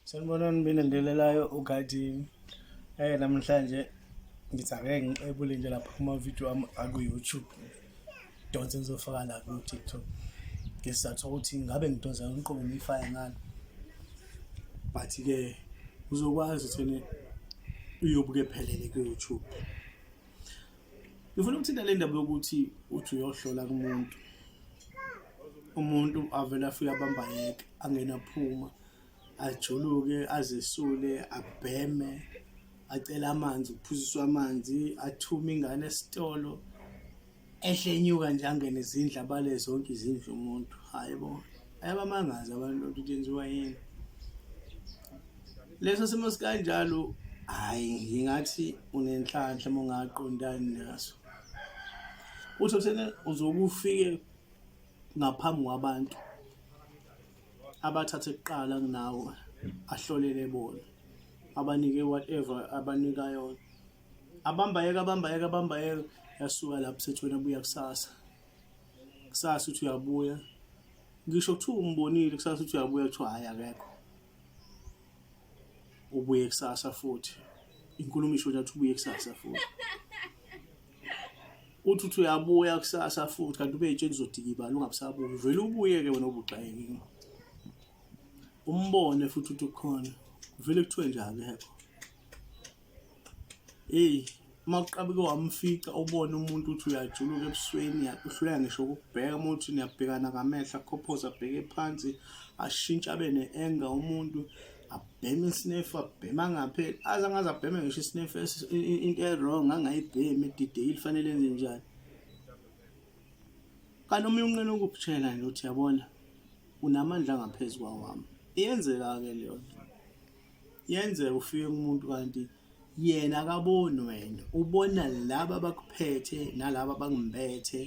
Sanibonani mina ndelelayo ugadini eh namhlanje ngithi ake ngiqebule nje lapha kuma-video ami aku-youtube donse ngizofaka la ku-tiktok ngesizathu sokuthi ngabe ngidonsa ngiqobo ngiyifake ngani but-ke uzokwazi ukuthi uyobuke phelele ku-youtube ngifuna ukuthinta le ndaba yokuthi uthi uyohlola kumuntu umuntu avele afike abamba yeke angena phuma ajuluke azesule abheme acele amanzi uphuziswa amanzi athume ingane esitolo ehlenyuka nje angene izindlu abale zonke izindlu umuntu hayi bo ayabamangazi abantu lento ithenziwa yini leso simo sikanjalo hayi ngingathi unenhlanhla uma ungaqondani naso uthi uthena uzokufike ngaphambi kwabantu abathathe kuqala kunawe ahlolele bona abanike whatever abanika yona abambayeka abambayeka abambayeka yasuka lapho sethi wena buya kusasa kusasa uthi uyabuya ngisho kuthiwa umbonile kusasa uthi uyabuya kuthiwa hhayi akekho ubuye kusasa futhi inkulumo isho nyathi ubuye kusasa futhi uthi uthi uyabuya kusasa futhi kanti ube yitsheni uzodikibala ungabusabuki vele ubuye-ke wena obugxayekile umbone futhi uthi ukhona vele kuthiwe njalo hekho eyi uma uqabuke wamfica ubone umuntu uthi uyajuluka ebusweni uhluleka ngisho ukubheka uma uthi niyabhekana ngamehlo akhophoza abheke phansi ashintshe abe ne-enga umuntu abheme isinefu abheme angapheli aze angaze abheme ngisho isinefu into e-wrong angayibhemi edideyile fanele enze njani kanti omunye unqena ukukutshela nje uthi yabona unamandla angaphezu kwawami iyenzeka-ke leyo nto Yenzeka ufike kumuntu kanti yena akaboni wena ubona laba abakuphethe nalaba abangimpethe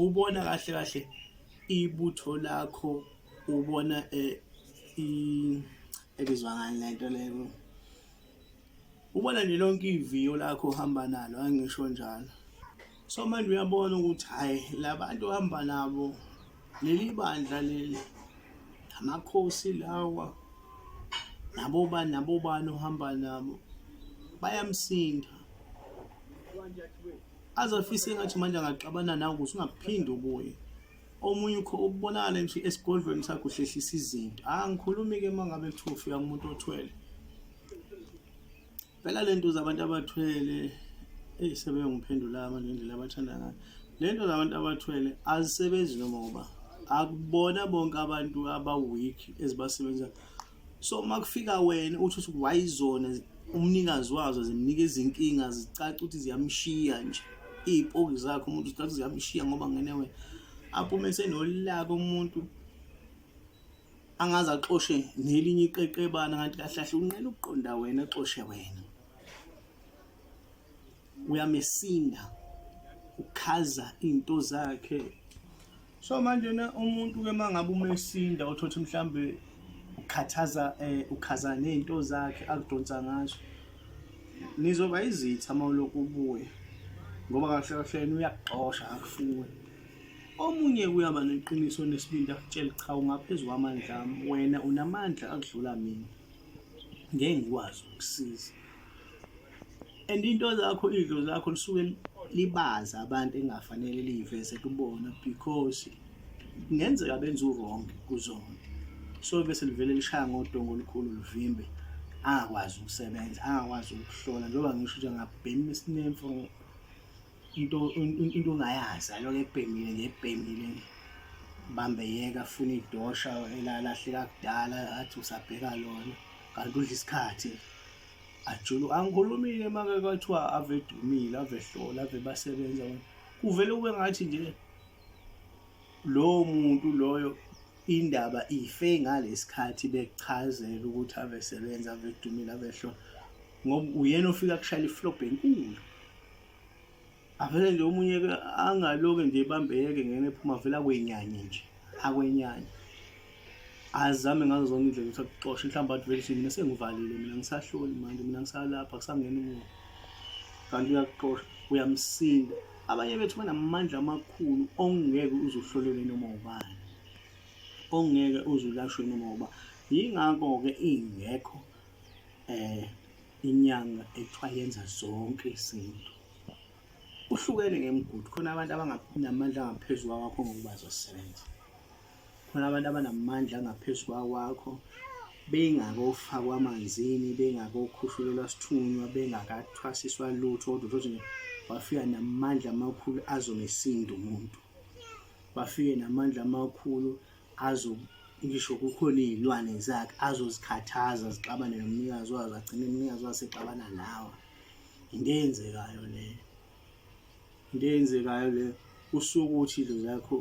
ubona kahle kahle ibutho lakho ubona eh, ebizwa ngani lento leyo ubona nje lonke iviyo lakho uhamba nalo angisho njalo so manje uyabona ukuthi hayi labantu ohamba nabo leli bandla leli amakhosi lawa nabo ba nabo bani ohamba nabo bayamsinda azafise engathi manje angaxabana nawe ukuthi ungaphinde ubuye omunye ukho ubonakala nje esigodlweni sakho uhlehlisa izinto angikhulumi-ke uma ngabe kuthiwa ufika kumuntu othwele phela le nto zabantu abathwele eyi sebeyongiphendula manje indlela abathanda ngayo le nto zabantu abathwele azisebenzi noma ngoba akubona bonke abantu aba-weak ezibasebenzayo so uma kufika wena uthi uthi wayizona umnikazi wazo zimnika izinkinga zicaca ukuthi ziyamshiya nje iy'poki zakhe umuntu zicaca ukuthi ziyamshiya ngoba ngene wena aphume senolaka umuntu angaze axoshe nelinye iqeqebana kanti kahle kahle unqena ukuqonda wena axoshe wena uyamesinda ukhaza into zakhe so manje na umuntu ke mangabe umesinda uthothi mhlambe ukhathaza eh ukhaza nezinto zakhe akudonsa ngazo nizoba izitha mawulokhu ubuye ngoba kahle kahle uyakuxosha akufuni Omunye uyaba neqiniso onesibindi akutshele cha ungaphezu kwamandla ami wena unamandla akudlula mina ngeke ngikwazi ukusiza and into zakho idlo zakho lisuke libaza abantu engafanele liyiveze kubona because kungenzeka benza uwrong kuzona so bese livele lishaya ngodongo olukhulu luvimbe angakwazi ukusebenza angakwazi ukuhlola njengoba ngisho ukuthi angabhema isinemfo into into ongayazi aloke ebhemile nje ebhemile nje bambe yeka funa idosha elalahleka kudala athi usabheka lona kanti udla isikhathi ajulu angikhulumile make kwathiwa ave dumile ave hlola ave basebenza kuvele kube ngathi nje lowo muntu loyo indaba ife ngalesikhathi bekuchazela ukuthi ave sebenza ave dumile ave hlola ngoba uyena ofika kushayela iflobhe enkulu avele nje omunye ke angaloke nje ebambeke ngene ephuma vele akwenyanye nje akwenyanye azame ngazo zonke indlela ukuthi akuxoshe mhlawumbe athi vele mina sengivalile mina ngisahloli manje mina ngisalapha kusangena umuntu kanti uyakuxosha uyamsinda abanye bethu banamandla amakhulu ongeke uzuhlolele noma ubani ongeke uzulashwe noma uba yingakho-ke ingekho um inyanga ekuthiwa yenza zonke izinto uhlukene ngemigudu khona abantu abanamandla angaphezu kwawakho ngokuba zosebenza khona abantu abanamandla angaphezu kwawakho bengakofakwa amanzini bengakokhushulelwa sithunywa bengakathwasiswa lutho kodwa uthole ukuthi wafika namandla amakhulu azomesindo umuntu wafike namandla amakhulu azo ngisho kukhona iy'lwane zakhe azozikhathaza zixabane nomnikazi wazo agcine umnikazi wazo sexabana nawe into eyenzekayo leyo into eyenzekayo leyo usuke ukuthi idlo zakho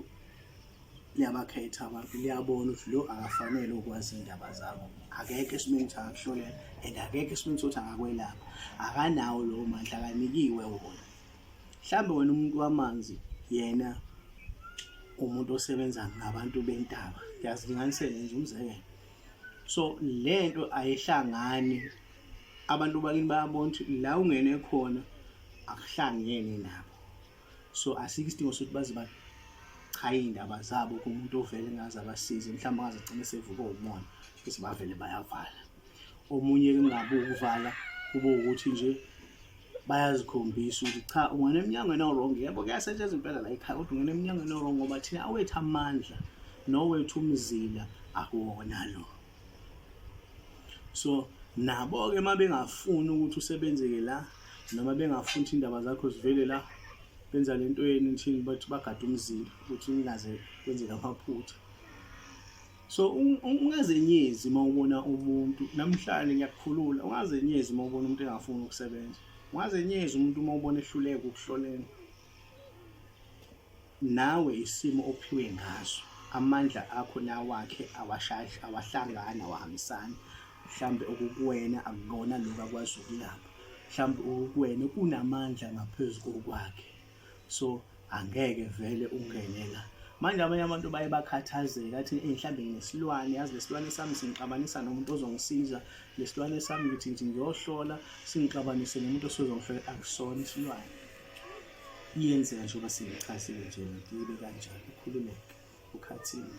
liyabakhetha abantu liyabona ukuthi lo akafanele ukwazi iy'ndaba zakho akekho esimeni ukuthi angakuhlolela and akekho esimeni sokuthi angakwelapha akanawo lowo mandla akanikiwe wona Mhlambe wena umuntu wamanzi yena umuntu osebenza ngabantu bentaba ngiyazilinganisela nje umzekelo so lento ayihlangani abantu bakini bayabona ukuthi la ungene khona akuhlangene nabo so asikho isidingo sokuthi baze bachaye iy'ndaba zabo kumuntu ovele ngaze abasize mhlawumbe ngaze agcine sevuka umona ukuthi bavele bayavala omunye kungabi ukuvala kube ukuthi nje bayazikhombisa ukuthi cha ungena emnyangweni owrong yebo kuyasetshenzwa impela la ekhaya kodwa ungena emnyangweni owrong ngoba thina awethu amandla nowethu umzila akuwona lo so nabo-ke uma bengafuni ukuthi usebenzeke la noma bengafuni ukuthi iy'ndaba zakho zivele la benza le nto yenu thini bathi bagade umzila ukuthi kungaze kwenzeka amaphutha so ungazenyezi uma ubona umuntu namhlanje ngiyakukhulula ungazenyezi uma ubona umuntu engafuni ukusebenza ungazenyezi umuntu uma ubona ehluleka ukuhloleni nawe isimo ophiwe ngaso amandla akho nawakhe awashashi awahlangana awahambisani mhlambe okukuwena akukona lokho akwazi ukulapha mhlambe okukuwena kunamandla ngaphezu kokwakhe so angeke vele ungene la manje abanye abantu baye bakhathazeke athi mhlawumbe nginesilwane yazi lesilwane sami singixabanisa nomuntu ozongisiza lesilwane sami ngithi ngithi ngiyohlola singixabanise nomuntu osozongihlola akusona isilwane iyenzeka njengoba singichazile nje ngibe kanjani ukhululeke ukhathini